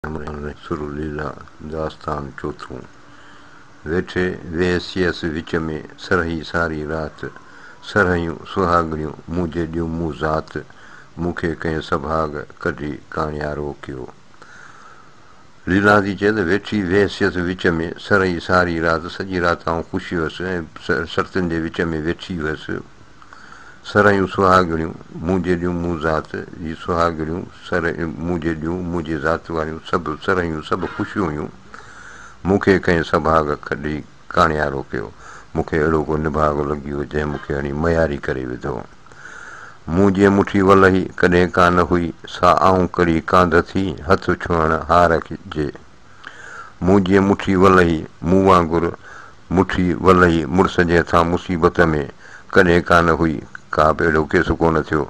ڪيمري ۾ سرو ليلا داستان چوٿون. ويٺي ويهسيس وچ ۾ سرهي ساري رات سرهيون سهاڳڻيون مون جي ڏيون مون ذات مون کي ڪنهن سڀاڳ ڪڍي ڪاڻيارو ڪيو ليلا ٿي چئي ته ويٺي ويهسيس وچ ۾ سرهي ساري رات سڄي رات آئون خوش هيس ۽ سرتين جي وچ ۾ ويٺي هيس سرهيون سهاڳڻيون مون جيڏيون مون ذات جي سهاڳڻيون سر مون جيڏيون منهنجي ذات واريون سڀ سرهيون سڀ خوشيون هيون مون کي ڪنهن سڀاڳ ڪڍي ڪاڻيارو ڪيو مون کي اهڙو ڪو نڀاڳ لڳيو جنهن مون کي هڻي مياري ڪري وڌو مون جي مٺي ولهي ڪڏهن ڪانه هئي سا آئون ڪڙي ڪانڌ ٿي هٿ ڇهڻ هار جي مون جيئن مٺي ولهي، مون وانگر مٺي ولهي مڙس جي هٿان مصيبت ۾ ڪڏهن ڪانه هئي، ڪا به اهڙو ڪيس ڪونه ٿيو،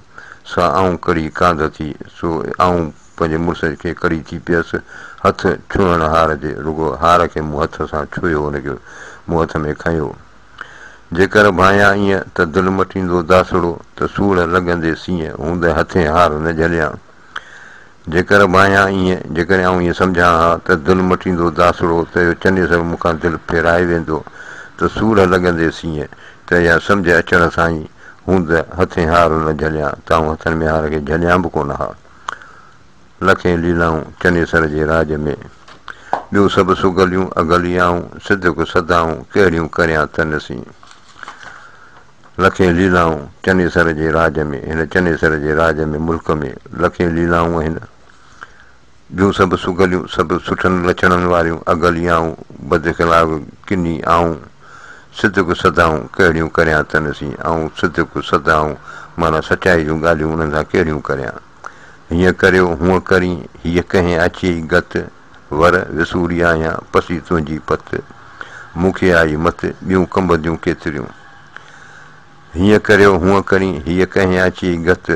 سا آئون ڪڙي ڪانڌ ٿي، سو آئون پنهنجي مڙس کي ڪڙي ٿي پيس، هٿ ڇهڻ هار جي، رڳو هار کي مون هٿ سان ڇهيو، ان کي مون هٿ ۾ کنيو. جيڪر ڀانيان ايئن ته دل مٽيندو داسڙو ته سوڙهه لڳندي سيئن هوندي هٿين هار نه جهليان. جيڪر ڀانيان ايئن، جيڪڏهن آئون ايئن سمجهان ها ته دل مٽيندو داسڙو ته اهو چني سر مون کان دل ڦيرائي ويندو ته سورهه لڳنديس ايئن ته اها سمجهه اچڻ سان ئي هوند هٿين هار نه جهليان ته آئون هٿن ۾ هار کي جهليان به ڪونه ها. لکين ليلائون چني سر جي راڄ ۾، ٻيون سڀ سگهليون اگهلي آئون سڌڪ سڌائون ڪهڙيون ڪريان تنس ايئن. لکين ليلائون چنيسر جي راڄ ۾، هن چنيسر جي راڄ ۾ ملڪ ۾ لکين ليلائون آهن. جون سڀ سگهليون، سڀ سٺن لڇڻن واريون، اگهلي آئون، بد خلاق ڪني آئون، صدق سڌائون ڪهڙيون ڪريان تن سين، آئون صدق سڌائون معنيٰ سچائي جون ڳالهيون انهن سان ڪهڙيون ڪريان. هيئن ڪريو، هونء ڪرين، هيء ڪهين آڇيئي گت، ور وسوري آهيان پسي تنهنجي پت، مون کي آئي مت ٻيون ڪنبنديون ڪيتريون. هيئن ڪريو هونئن ڪرين هيء ڪهين اچي گت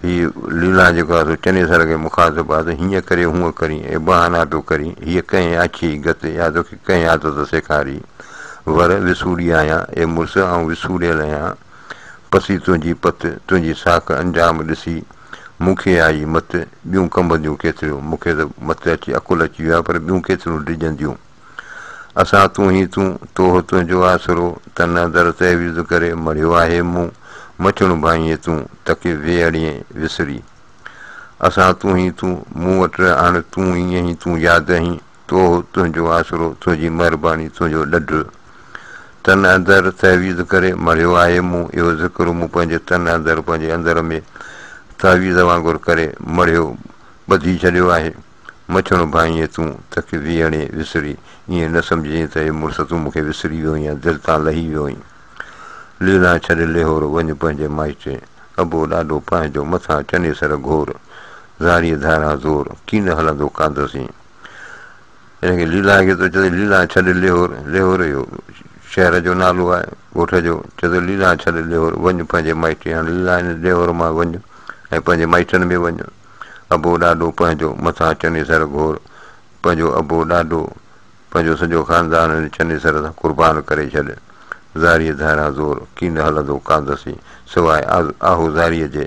هي ليلان جيڪو آهي سو چنيسر کي مخاطب آهي ته هيئن ڪريو هونئن ڪرين اي بهانا پيو ڪرين هيء ڪهين اچي گت اها توکي ڪهين عادت سيکاري ور وسوري آهيان اي مڙس آئون وسوريل اهيان پسي تنهنجي پت تنهنجي ساک انجام ڏسي مون کي آئي مت، ٻيون ڪنبنديون ڪيتريون، مون کي ته مت اچي عقل اچي ويو آهي، پر ٻيون ڪيتريون ڊڄنديون. اسان تون هين تون، توهه تنهنجو آسرو، تن اندر تعويذ ڪري، مڙهيو آهي مون، مڇڻ ڀانئينء تون، تڪي وي اڙينء وسري. اسان تون هين تون، مون وٽ اڻ تون، ائين ئي تون ياد هين، توهو، تنهنجو آسرو، تنهنجي مهرباني، تنهنجو ڏڍ. تن اندر تعويذ ڪري مڙهيو آهي مون اهو ذڪر مون پنهنجي تن اندر پنهنجي اندر ۾ تعويذ وانگر ڪري مڙهيو ٻڌي ڇڏيو آهي مڇڻ ڀانئينء تون تکي ويهڻي وسري ائين نه سمجهين ته اي مڙس تون مونکي وسري ويو يا دل تان لهي ويو ائين ليلان ڇڏ ليهور وڃ پنهنجي مائٽي ابو ڏاڏو پنهنجو مٿان چنيسر گهور زاريء ڌاران زور ڪين هلندو ڪاندسين ان کي ليلان کي ٿو چوي ليلان ڇڏ ليهور، ليهور اهو شهر جو نالو آهي ڳوٺ جو، چوي ٿو ليلان ڇڏ ليهور، وڃ پنهنجي مائٽي هڻ ليلان هن ليهور مان وڃ ۽ پنهنجي مائٽن ۾ وڃ، ابو ڏاڏو پنهنجو مٿان چني سر گهور، پنهنجو ابو ڏاڏو، پنهنجو سڄو خاندان هن چني سر سان قربان ڪري ڇڏ، زاريء ڌاران زور ڪين هلندو ڪاندسين سواء آهو زاريء جي.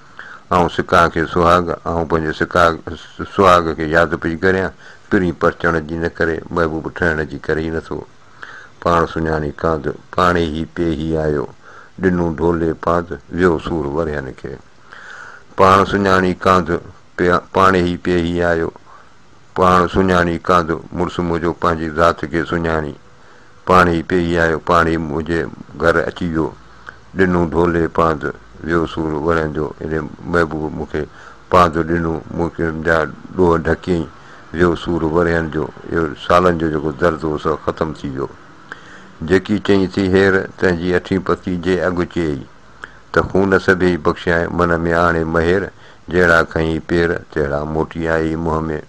آئون سڪاء کي سهاڳ، آئون پنهنجي سڪاء سهاڳ کي ياد پئي ڪريان، پرين پرچڻ جي نه ڪري، محبوب ٺهڻ جي ڪري ئي نٿو. پاڻ سڃاڻي ڪانڌ، پاڻي هي پي هي آيو، ڏنون ڍولي پانڌ، ويو سور ورهين کي. پاڻ سڃاڻي ڪانڌ، پاڻي هي پي هي آيو، پاڻ سڃاڻي ڪانڌ، مڙس منهنجو پنهنجي ذات کي سڃاڻي، پاڻي پيئي آيو پاڻي منهنجي گهر اچي ويو ڏنو ڍولي پانڌ ويو سور ورهين جو اڙي محبوب مون کي پانڌ ڏنو مون کي جا ڏوهه ڍڪيئي ويو سور ورهين جو اهو سالن جو جيڪو درد هو سو ختم ٿي ويو جيڪي چئين ٿي هير تنهنجي اٺين پتي جي اڳ چيئي ته خون سڀيئي بخشيائين من ۾ آڻي مهير جهڙا کنئي پير تهڙا موٽي آيئي منهن ۾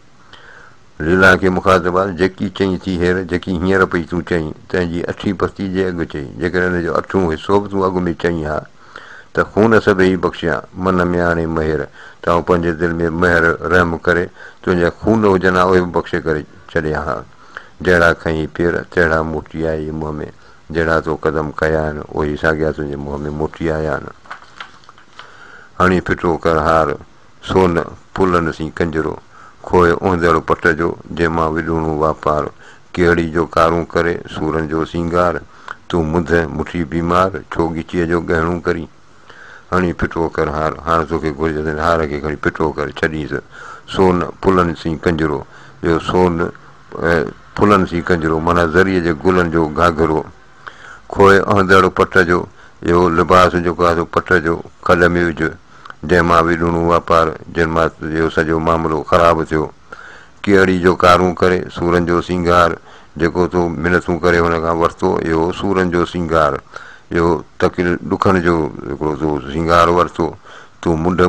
ليلا کي مخاطبان جيڪي چئين ٿي هير، جيڪي هينئر پئي تون چئين، تنهن جي اٺين پستي جي اڳ چئين، جيڪڏهن ان جو اٺون حصو به تون اڳ ۾ چئين ها ته خون سڀيئي بخشيان، من ۾ آڻي مهر، ته آئون پنهنجي دل ۾ مهر، رحم، ڪري تنهنجا خون هجن ها اهي به بخشي ڪري ڇڏيان ها. جهڙا کنئين پير، تهڙا موٽي آئي منهن ۾، جهڙا تو قدم ڪيا آهن، اهي ساڳيا تنهنجي منهن ۾ موٽي آيا آهن. هڻي ڦٽو ڪر هار. سو نه پلن سين ڪنجرو، کوهه اوندهڙ پٽ جو، جنهن مان وڏوڻو واپار، ڪهڙي جو ڪارون ڪري، سورن جو سينگار، تون منڌ مٺي بيمار، ڇو ڳچيء جو ڳهڻو ڪرين؟ هڻي ڦٽو ڪر هار، هاڻ توکي گهرجس هن هار کي کڻي ڦٽو ڪري ڇڏينس، سو نه پلن سين ڪنجرو، جو سو نه پلن سين ڪنجرو معنيٰ زريء جي گلن جو گهاگهرو، کوء اهندڙ پٽ جو اهو لباس جيڪو آهي سو پٽ جو کڏ ۾ وجهه، جنهن مان وي ڏڻون واپار، جن مان اهو سڄو معاملو خراب ٿيو. ڪيئڙي جو ڪارون ڪري، سورن جو سينگار، جيڪو تو منٿون ڪري هن کان ورتو، اهو سورن جو سينگار، اهو تڪل ڏکن جو هڪڙو تو سينگار ورتو، تون منڍ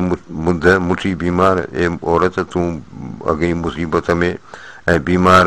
منڌ مٺي بيمار، اي عورت تون اڳئين مصيبت ۾ ۽ بيمار،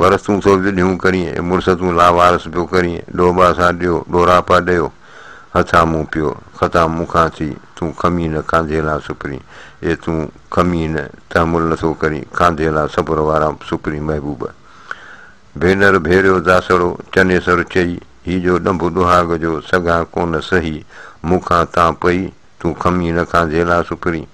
ورس تون سوڀج ڏيون ڪرين، اي مڙس تون لاوارس پيو ڪرين، ڏوٻا سان ڏيو، ڏوراپا ڏيو، هٿان مون پيو، خطا مون کان ٿي، تون کمي نه کانڌي لا سپرين، اي تون کمي نه، تحمل نه ٿو ڪرين، کانڌي لا صبر وارا سپرين محبوب! ڀينر ڀيريو داسڙو، چنيسر چئي، هي جو ڏنڀ ڏهاڳ جو، سگهان ڪونه سهي، مون کان تان پئي، تون کمي نه کانڌي لا سپرين.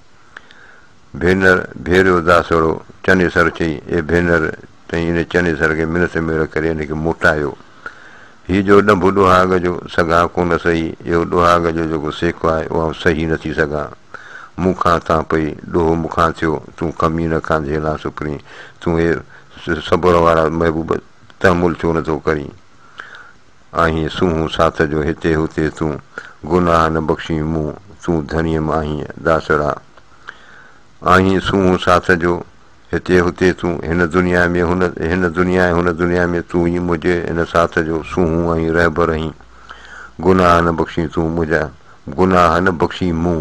ڀينر، ڀيريو داسڙو چني سر چئي، اي ڀينر! تئين ان چني سر کي منٿ ميڙ ڪري ان کي موٽايو. هي جو ڏنڀ ڏوهاڳ جو سگهان ڪونه سهي، اهو ڏوهاڳ جو جيڪو سيڪو آهي، اهو آئون سهي نه ٿي سگهان. مون کان تان پئي، ڏوهه مون کان ٿيو، تون ڪمينه کان جهيلان سپرين، تون اي صبر وارا محبوب تحمل ڇو نه ٿو ڪرين؟ آهين سونهون ساٿ جو هتي هتي تون گناهه نه بخشين مون تون ڌڻيم آهين داسڙا آهين سونهون ساٿ جو هتي هتي تون هن دنيا ۾ هن هن دنيا ۽ هن دنيا ۾ تون ئي منهنجي هن ساٿ جو سونهون ۽ رهبر آهين گناهه نه بخشين تون منهنجا گناهه نه بخشين مون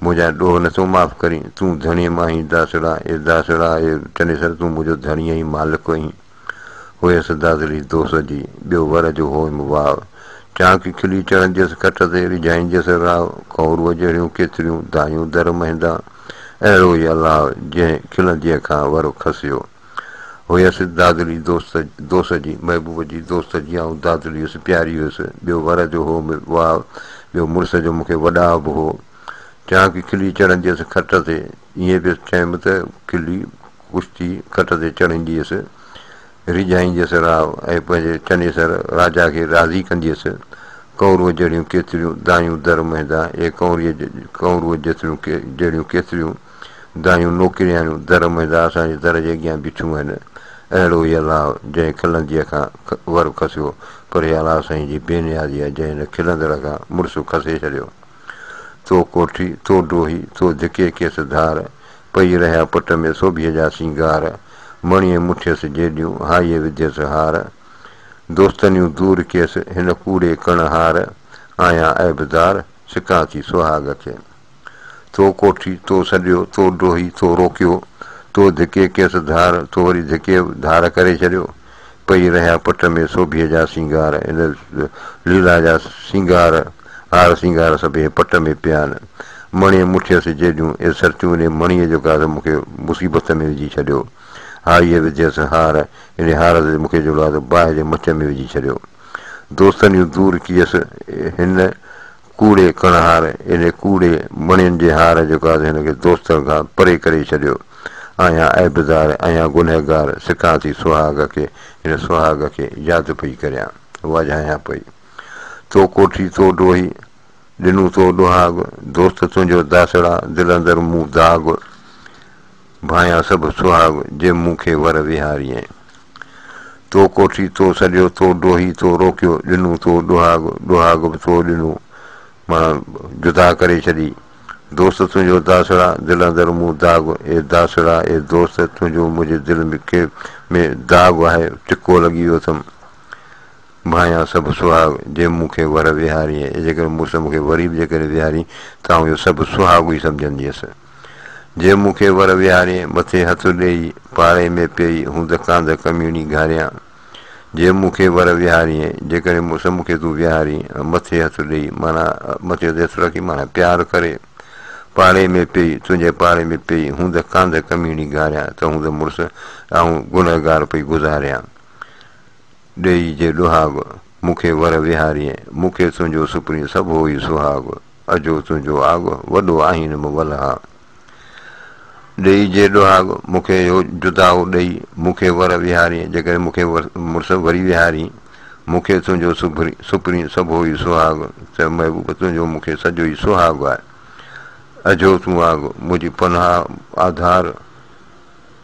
منهنجا ڏوهه نٿو معاف ڪرين تون ڌڻيم آهين داسڙا اي داسڙا اي چنيسر تون منهنجو ڌڻي آهين مالڪ آهين هيس دادلي دوست جي، ٻيو ور جو هوم واء. چانڪي کلي چڙهنديس کٽ تي، ريجهائينديس راء. ڪئوروء جهڙيون ڪيتريون دايون در مهندا. اهڙو ئي الله، جنهن کلنديء کان ور کسيو. هيس دادلي دوست دوست جي، محبوب جي دوست جي آئون دادلي هيس، پياري هيس. ٻيو ور جو هوم واء. ٻيو مڙس جو مون کي وڏاء به هو. چانڪي کلي چڙهنديس کٽ تي. ائين به چيم ته کلي. ڪشتي کٽ تي چڙهينديس، ريجهائينديس راء ۽ پنهنجي چنيسر راجا کي راضي ڪنديس. ڪنورو جهڙيون ڪيتريون دايون در مهندا اي ڪنوريء ڪنورو جيتريون جهڙيون ڪيتريون دايون نوڪرياڻيون در مهندا اسان جي در جي اڳيان بيٺيون آهن. اهڙو هي الاء جنهن کلنديء کان ور کسيو، پر هي الاء سائين جي بي نيازي آهي جنهن هن کلندڙ کان مڙس کسي ڇڏيو. تو ڪوٺي، تو ڊوهي، تو ڌڪي ڪيس ڌار، پئي رهيا پٽ ۾ سوڀيء جا سينگار، مڻيء مٺيس جيڏيون، هائيء وڌيس هار. دوستنيون دور ڪيس، هن ڪوڙي ڪڻ هار، آهيان عيبدار، سڪان ٿي سهاڳ کي. تو ڪوٺي، تو سڏيو، تو ڊوهي، تو روڪيو، تو ڌڪي ڪيس ڌار، تو وري ڌڪي ڌار ڪري ڇڏيو. پئي رهيا پٽ ۾ سوڀيء جا سينگار ان ليلا جا سينگار هار سينگار سڀيئي پٽ ۾ پيا آهن مڻيء مٺيء سجي جون اي سرتيون انهي مڻيء جو گاز مون کي مصيبت ۾ وجهي ڇڏيو هاريء وڌيس هار انهي هار سجي مون کي جو لاز باهه جي مچ ۾ وجهي ڇڏيو دوستن يون دور ڪيس هن ڪوڙي ڪڻهار اهڙي ڪوڙي مڻين جي هار جو ڪاز هن کي دوستن کان پري ڪري ڇڏيو. آهيان عيبدار، آهيان گنهگار، سڪان ٿي سهاڳ کي، هن سهاڳ کي ياد پئي ڪريان، واجهايان پئي. تو ڪوٺي، تو ڊوهي، ڏنون تو ڏوهاڳ، دوست تنهنجو داسڙا، دل اندر مون داغ. ڀانئيا سڀ سهاڳ جي مون کي ور ويهاريئي. تو ڪوٺي تو سڏيو تو ڊوهي تو روڪيو ڏنو تو ڏوهاڳ ڏوهاڳ به تو ڏنو مان جدا ڪري ڇڏي دوست تنهنجو داسڙا دل اندر مون داغ اي داسڙا اي دوست تنهنجو منهنجي دل کي ۾ داغ آهي ٽڪو لڳي ويو اٿم ڀانئيا سڀ سهاڳ جي مون کي ور ويهاريئي جيڪڏهن مڙس مون کي وري به جيڪڏهن ويهارين ته آئون اهو سڀ سهاڳ ئي سمجهنديس. جنهن مون کي ور ويهاري، مٿي هٿ ڏيئي، پاڙي ۾ پيئي، هون ڌڪان ڌڪ ميڻي گهاريان. جنهن مون کي ور ويهاريئي، جيڪڏهن مون سان مون کي تون ويهاري، مٿي هٿ ڏيئي، معنيٰ مٿي تي هٿ رکي معنيٰ پيار ڪري، پاڙي ۾ پيئي، تنهنجي پاڙي ۾ پيئي، هون ڌڪان ڌڪ ميڻي گهاريان، ته هون ته مڙس آئون گنهگار پئي گذاريان. ڏيئي جي ڏهاڳ، مون کي ور وهاريئي، مون کي تنهنجو سپرين سڀو ئي سهاڳ، اجهو تنهنجو آڳ، وڏو آهين مون ولها. ڏيئي جي ڏهاڳ، مون کي اهو جدائو ڏيئي، مون کي ور وهاريئي، جيڪڏهن مون کي مڙس وري وهارين، مون کي تنهنجو سپرين سڀو ئي سهاڳ، ته محبوب تنهنجو مون کي سڄو ئي سهاڳ آهي. اجهو تون آڳ، منهنجي پناهه آڌار.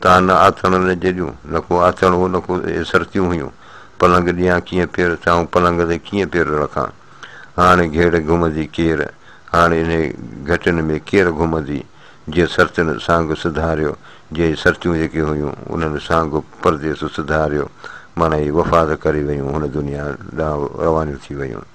تان نه آٿڻ نه جڏيون، نه ڪو آٿڻ هو نه ڪو سرتيون هيون، پلنگ ڏيان ڪيئن پير چاهون، پلنگ تي ڪيئن پير رکان، هاڻ گهيڙ گهمندي ڪير، هاڻ انهي گهٽين ۾ ڪير گهمندي، جي سرتين سانگ سڌاريو، جي سرتيون جيڪي هيون، انهن سانگ پرديس سڌاريو، معنيٰ اهي وفات ڪري ويون، هن دنيا ڏانهن روانيون ٿي ويون.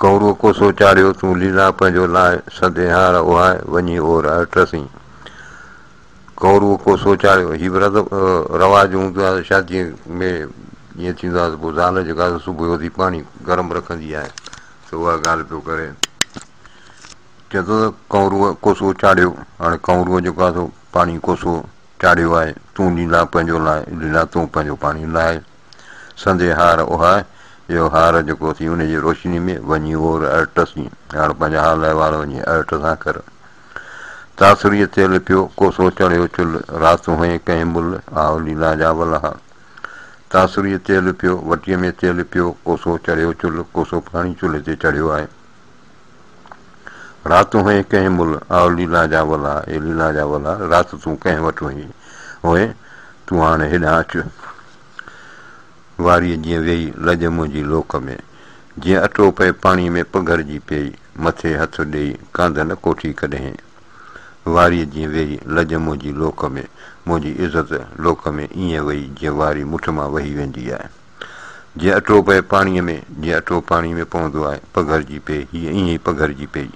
ڪنورو ڪوسو چاڙهيو تون ليلا پنهنجو لاء سد ايهار اوهاء وڃي اور هر ٽسين. ڪنورو ڪوسو چاڙهيو هي به رد رواج هوندو آهي شادي ۾ ائين ٿيندو آهي ته پوء زال جيڪا صبح جو اٿي پاڻي گرم رکندي آهي ته اها ڳالهه پيو ڪري چئي ٿو ته ڪنورو ڪوسو چاڙهيو هاڻي ڪنورو جيڪو آهي سو پاڻي ڪوسو چاڙهيو آهي تون ليلا پنهنجو لاء ليلا تون پنهنجو پاڻي لاء سندي هار اها اهو هار جيڪو اٿئي انهي جي روشني ۾ وڃي اور ارٽس ۽ هاڻ پنهنجا حال احوال وڃي ارٽ سان ڪر تاثريء تيل پيو ڪوسو چڙهيو چل رات هئين ڪنهن مل آئو ليلا جا ولها تاثريء تيل پيو وٽيء ۾ تيل پيو ڪوسو چڙهيو چل ڪوسو پاڻي چلهي تي چڙهيو آهي. رات هئين ڪنهن مل، آء ليلا جا ولا، اي ليلا جا ولا، رات تون ڪنهن وٽ هئين، هئين تون هاڻي هيڏانهن اچ. واريء جيئن ويئي لڄ منهنجي لوڪ ۾، جيئن اٽو پئي پاڻيء ۾ پگهرجي پيئي، مٿي هٿ ڏيئي ڪانڌ نه ڪوٺي ڪڏهين. واريء جيئن ويئي لڄ منهنجي لوڪ ۾، منهنجي عزت لوڪ ۾ ائين وئي جيئن واري مٺ مان وهي ويندي آهي. جيئن اٽو پئي پاڻيء ۾، جيئن اٽو پاڻيء ۾ پوندو آهي، پگهرجي پئي، هيء ائين ئي پگهرجي پئي.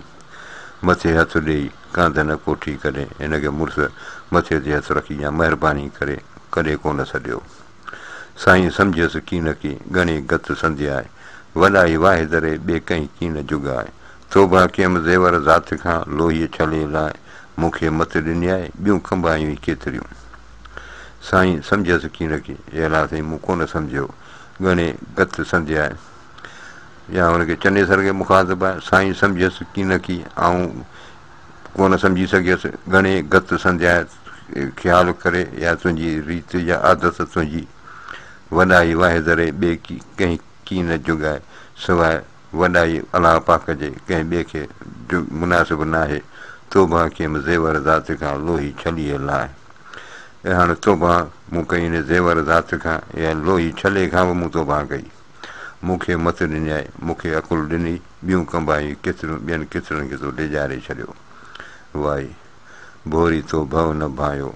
مٿي هٿ ڏيئي، ڪانڌ نه ڪوٺي ڪڏهن هن کي مڙس مٿي تي هٿ رکي يا مهرباني ڪري ڪڏهن ڪو نه سڏيو. سائين سمجهيس ڪين ڪي ڳڻي گت سندي آهي، وڏائي واحد ري ٻي ڪنهن ڪين جڳ آهي. توبه ڪيم زيور ذات کان، لوهيء ڇلي لاء مون کي مت ڏني آهي، ٻيون کنڀايون ئي ڪيتريون. سائين سمجهيس ڪين رکي، اي الله سائين مون ڪونه سمجهيو، ڳڻي گت سندي آء. يا هن کي چني سر کي مخاطب آء، سائين سمجهيس ڪين رکي، آئون ڪونه سمجهي سگهيس، ڳڻي گت سندي آء، خيال ڪري يا تنهنجي ريت يا عادت تنهنجي، وڏائي واهي ذري ٻئي ڪنهن ڪين جڳائي، سواء. وڏائي الله پاڪ جي، ڪنهن ٻئي کي مناسب ناهي، توبه ڪيم زيور ذات کان، لوهي ڇليء لاء. اي هاڻ توبه مون ڪئي ان زيور ذات کان، اها لوهي ڇلي کان به مون توبه ڪئي. مون کي مت ڏنيائي، مون کي عقل ڏني، ٻيون ڪنباهيون ڪيتريون، ٻين ڪيترن کي تو ڊيڄاري ڇڏيو. واء! ڀوري تو ڀؤ نه ڀانئيو،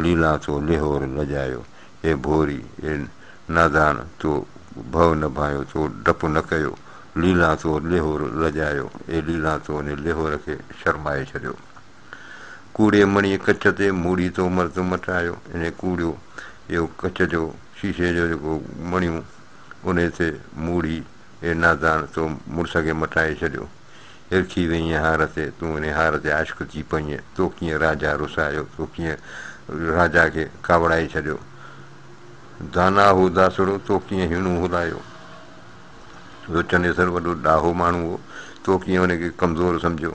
ليلان ٿو ليهور لڄايو، اي ڀوري، اي نادان، تو ڀؤ نه ڀانيو، تو ڊپ نه ڪيو، ليلان تو ليهور لڄايو، اي ليلان تو ني ليهور کي شرمائي ڇڏيو. ڪوڙي مڻي ڪچ تي موڙي تو مرد مٽايو، انهي ڪوڙيو، اهو ڪچ جو، شيشي جو جيڪو مڻيون، انهي تي موڙي، اي نادان! تو مڙس کي مٽائي ڇڏيو. هرکي ويئين هار تي، تون انهي هار تي عاشق ٿي پئينء. تو ڪيئن راجا رسايو، تو ڪيئن راجا کي ڪاوڙائي ڇڏيو. دانا هو داسڙو، تو ڪيئن هيڻو هلايو. جو چنيسر وڏو ڏاهو ماڻهو هو، تو ڪيئن ان کي ڪمزور سمجهيو.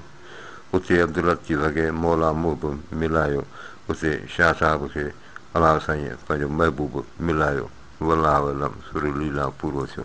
اتي عبدالحق جي وڳي مولا محب ملايو، اتي شاهه صاحب کي الهه سائينء پنهنجو محبوب ملايو. والله علم سوري ليلا پورو ٿيو.